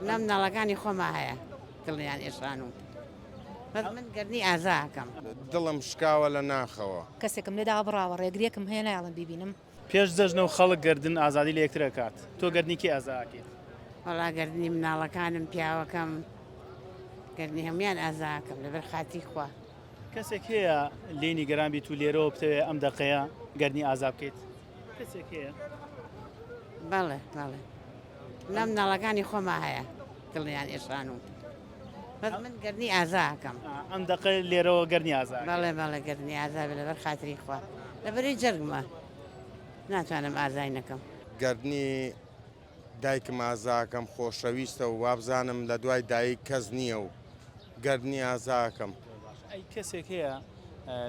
لە مناڵەکانی خۆما هەیە دڵیان ئێشان و بەس من گەرنی ئازا ئەکەم. دڵم شکاوە لە ناخەوە. کەسێکم لێ دابڕاوە، ڕێگرێکم هەیە نایەڵم بیبینم. پێش جەژنە و خەڵک گەردن ئازادی لە یەکتر ئەکات، تۆ گەردنی کێ ئازا ئەکەیت؟ وەڵا گەردنی مناڵەکانم، پیاوەکەم، گەردنی هەموویان ئازا ئەکەم لەبەر خاتری خوا. کەسێک هەیە لێی نیگەران بیت و لێرەوە بتەوێت ئەم دەقەیە گەردنی ئازا بکەیت؟ بەڵێ بەڵێ لەم ناڵەکانی خۆما هەیە دڵیان ئێشان و بەس من گەرنی ئازاکەم ئەم دقە لێرەوە گەرنی ئازا بەڵێ بەڵێ گەرنی ئازا لەبەر خاتری خوا لەبەری جەرگمە ناتوانم ئازای نەکەم گردنی دایکم ئازاکەم خۆشەویستە و وابزانم لە دوای دایک کەس نییە و گەر نی ئازاکەم. باشە ئەی کەسێک هەیە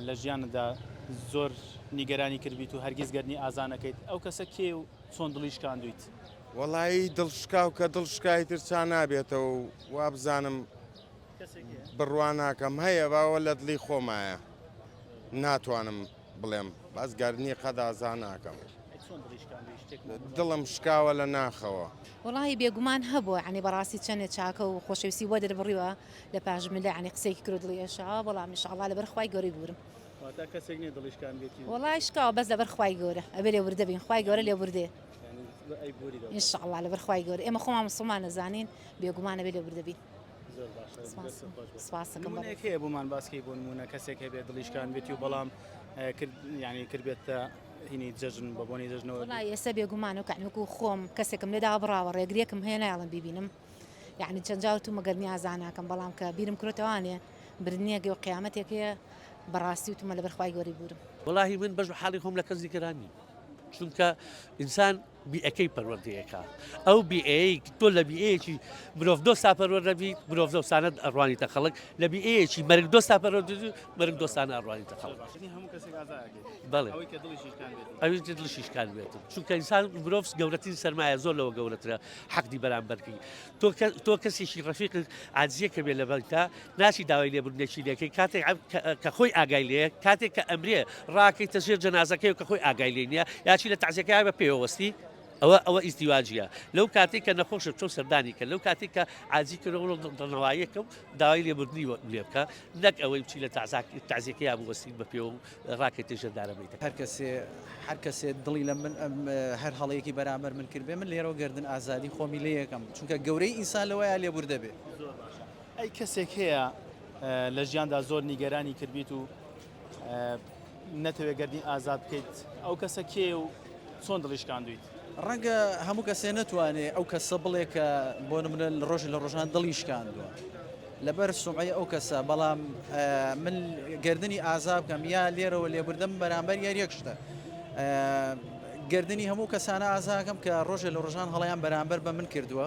لە ژیانتدا زۆر نیگەرانی کردبیت و هەرگیز گەر نی ئازا نەکەیت؟ ئەو کەسە کێیە و چۆن دڵی شکاندوویت؟ وەڵایی دڵ شکاو کە دڵ شکا ئیتر چا نابێتەوە و وابزانم بڕوا ناکەم هەیە باوە لە دڵی خۆمایە ناتوانم. بڵێم باس گاردنی قەدازا ناکەم. دڵم شکاوە لە ناخەوە. وەڵاهی بێگومان هەبووە یانی بەڕاستی چەنێ چاکە و خۆشەویستی وە دەربڕیوە لە پاش ملە یانی قسەیەکی کرد و دڵی ئێشاوە بەڵام ان شاءاللە لەبەر خوای گەورەی بوورم واتە کەسێک نییە دڵی شکاندێتی وەڵاهی شکاوە بەس لەبەر خوای گەورە ئەبێ لێبوردە بین خوای گەورە لێبوردەیە ان شاءاللە لەبەر خوای گەورە ئێمە خۆمان موسڵمان ئەزانین بێگومان ئەبێ لێبوردە بین. نمونەیەک هەیە بۆمان باس کەی بۆ نمونە کەسێک هەبێت دڵیشکان بێتی و بەڵام ینی کردبێتە هینی جەژن بە بۆنی جەژنەوە ئێستا بێگومان و کەنوک و خۆم کەسێکم لێدا بڕاوە ڕێگرێکم هەیە نایڵم ببینم یعنی چەند جاوت و مەگەر نیازاناکەم بەڵام کە بیرم کرێتوانێ برنیەگە و قیامەتێک هەیە بەڕاستی و تومە لە بەرخوای گۆری بورم وڵی من بەش حاڵی خۆم لە کەس دیکەرانی چونکە ئینسان بیئەکەی پەروەردەیەکە ئەو بیئەیەی تۆ لە بیئەیەکی مرۆڤ دۆستا پەروەردە بی مرۆڤ دۆستانە ئەڕوانیتە خەڵک لە بیئەیەکی مەرگ دۆستا پەروەردە بی مەرگ دۆستانە ئەڕوانیتە خەڵک یعنی هەموو کەسێک ئازایەکەی بەڵێ ئەوەی کە دڵیشی شکان بێت ئەوی تر دڵشیش کار بێت چونکە ئینسان مرۆڤ گەورەترین سەرمایە زۆر لەوە گەورەترە حەقدی بەرامبەرکەی تۆ کەسێکی ڕەفیقت عاجزیە کە بێ لە بەنکتا ناچی داوای لێبوردنێکی لێکەی کاتێک کە خۆی ئاگای لێ کاتێک کە ئەمرێ ڕاکەیتە ژێر جەنازەکەی کە خۆی ئاگای لێ نیە یاچی لە تازیەکەی بە پێوەستی ئەوە ئەوە ئیزدیواجیە لەو کاتێک کە نەخۆشە چۆ سەردانی کە لەو کاتێک کە عجی کردەوە دڵنەواییەکە و داوای لێبوردنی لێ بکە نەک ئەوەی بچی لە تازیەکەی بوەستین بە پێوە ڕاکێتی ژێر دارەبەی دەکەن. هەر کەسێ هەر کەسێ دڵی لە من ئەم هەر هەڵەیەکی بەرامبەر من کردبێ من لێرەوە گەردن ئازادی خۆمی لێ یەکەم چونکە گەورەی ئینسان لەوەیە لێبوردە بێ. زۆر باشە ئەی کەسێک هەیە لە ژیاندا زۆر نیگەرانی کردبیت و نەتەوێ گەردنی ئازاد بکەیت ئەو کەسە کێیە و چۆن دڵی شکاندویت؟ ڕەنگە هەموو کەسێ نەتوانێ ئەو کەسە بڵێ کە بۆ نمونە لە ڕۆژ لە ڕۆژان دڵی شکاندووە لەبەر سومعی ئەو کەسە بەڵام من گردنی ئازا بکەم یا لێرەوە لێبوردەم بەرامبەر یار یەک شتە گردنی هەموو کەسانە ئازاکەم کە ڕۆژێ لە ڕۆژان هەڵیان بەرامبەر بە من کردووە.